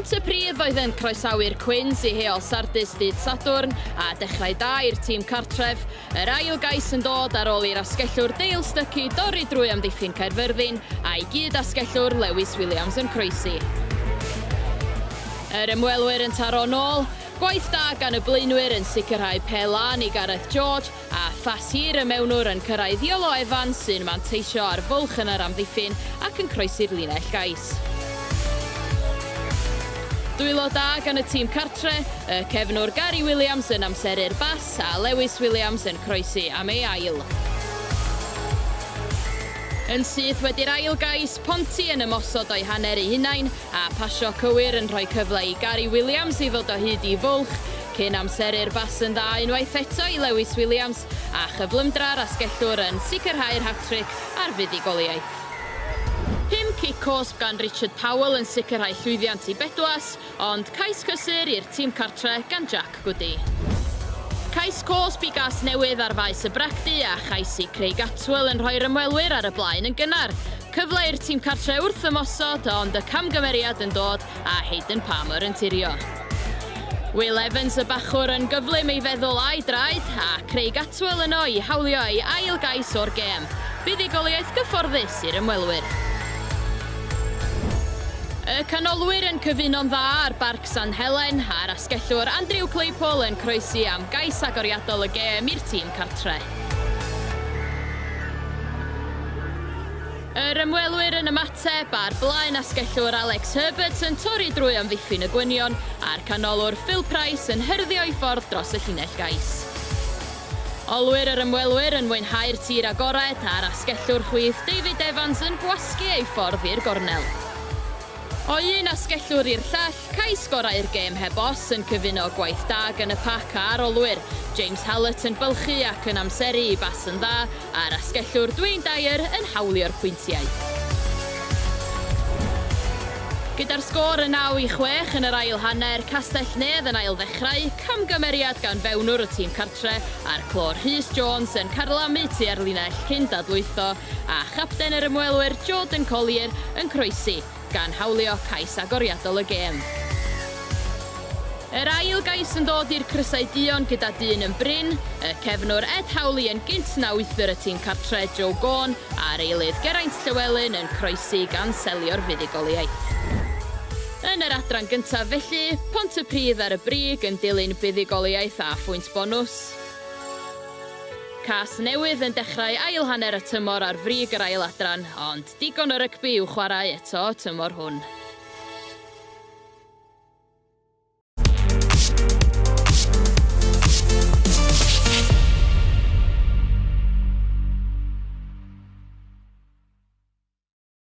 Pont y Prif oedd yn croesawu'r Cwins i heol Sardis dydd Sadwrn a dechrau da i'r tîm cartref. Yr ail gais yn dod ar ôl i'r asgellwr Dale Stucky dorri drwy amddiffyn Caerfyrddin a'i gyd asgellwr Lewis Williams yn croesi. Yr ymwelwyr yn taro nôl, gwaith da gan y blaenwyr yn sicrhau pe lan i Gareth George A pha sir y mewnwr yn cyrraedd Iolo Evans sy'n manteisio ar fwlch yn yr amddiffyn ac yn croesi'r linell gais? Dwylo da gan y tîm cartre', y cefnwr Gary Williams yn amseru'r bas a Lewis Williams yn croesi am ei ail. Yn syth wedi'r ail gais, Ponty yn ymosod o'i hanner ei hunain, A phasio cywir yn rhoi cyfle i Gary Williams i ddod o hyd i fwlch cyn amseru'r bas yn dda unwaith eto i Lewis Williams a chyflymdra'r asgellwr yn sicrhau'r hat-tric ar fuddugoliaeth. Pum cic cosb gan Richard Powell yn sicrhau llwyddiant i Bedwas, ond cais cysur i'r tîm cartre gan Jack Goody. Cais cosb i Gasnewydd ar faes y bragdy a chais i Craig Attwell yn rhoi'r ymwelwyr ar y blaen yn gynnar. Cyfle i'r tîm cartre wrth ymosod, ond y camgymeriad yn dod a Hayden Palmer yn tirio. Will Evans y bachwr yn gyflym ei feddwl a'i draed, a Craig Attwell yno i hawlio ei ail gais o'r gêm. Buddugoliaeth gyfforddus i'r ymwelwyr. Y canolwyr yn cyfuno'n dda ar Barc San Helen, a'r asgellwr Andrew Claypole yn croesi am gais agoriadol y gêm i'r tîm cartre. Yr ymwelwyr yn ymateb ar blaen asgellwr Alex Herbert yn torri drwy amddiffyn y gwynion a'r canolwr Phil Price yn hyrddio ei ffordd dros y llinell gais. Olwyr yr ymwelwyr yn mwynhau'r tir agored a'r asgellwr chwith David Evans yn gwasgu ei ffordd i'r gornel. O un asgellwr i'r llall, Cai sgorau'r gêm heb os yn cyfuno gwaith da gan y pac a arolwyr, James Hallett yn bylchu ac yn amseru i bas yn dda, a'r asgellwr Dwayne Dyer yn hawlio'r pwyntiau. Gyda'r sgôr yn 9 i 6 yn yr ail hanner, Castell-nedd yn ailddechrau, camgymeriad gan fewnwr y tîm cartre, a'r clôr Rhys Jones yn carlamu tua'r linell cyn dadlwytho, a chapten yr ymwelwyr Jordan Collier yn croesi, gan hawlio cais agoriadol y gêm. Yr ail gais yn dod i'r crysau duon gyda dyn yn brin, y cefnwr Ed Howley yn gynt na wythwr y tîm cartre Joe Gawn a'r eilydd Geraint Llywelyn yn croesi gan selio'r fuddugoliaeth. Yn yr adran gyntaf felly, Pontypridd ar y brig yn dilyn buddugoliaeth a phwynt bonws. Cas newydd yn dechrau ail hanner y tymor ar frig yr ail adran, ond digon o rygbi i'w chwarae eto y tymor hwn.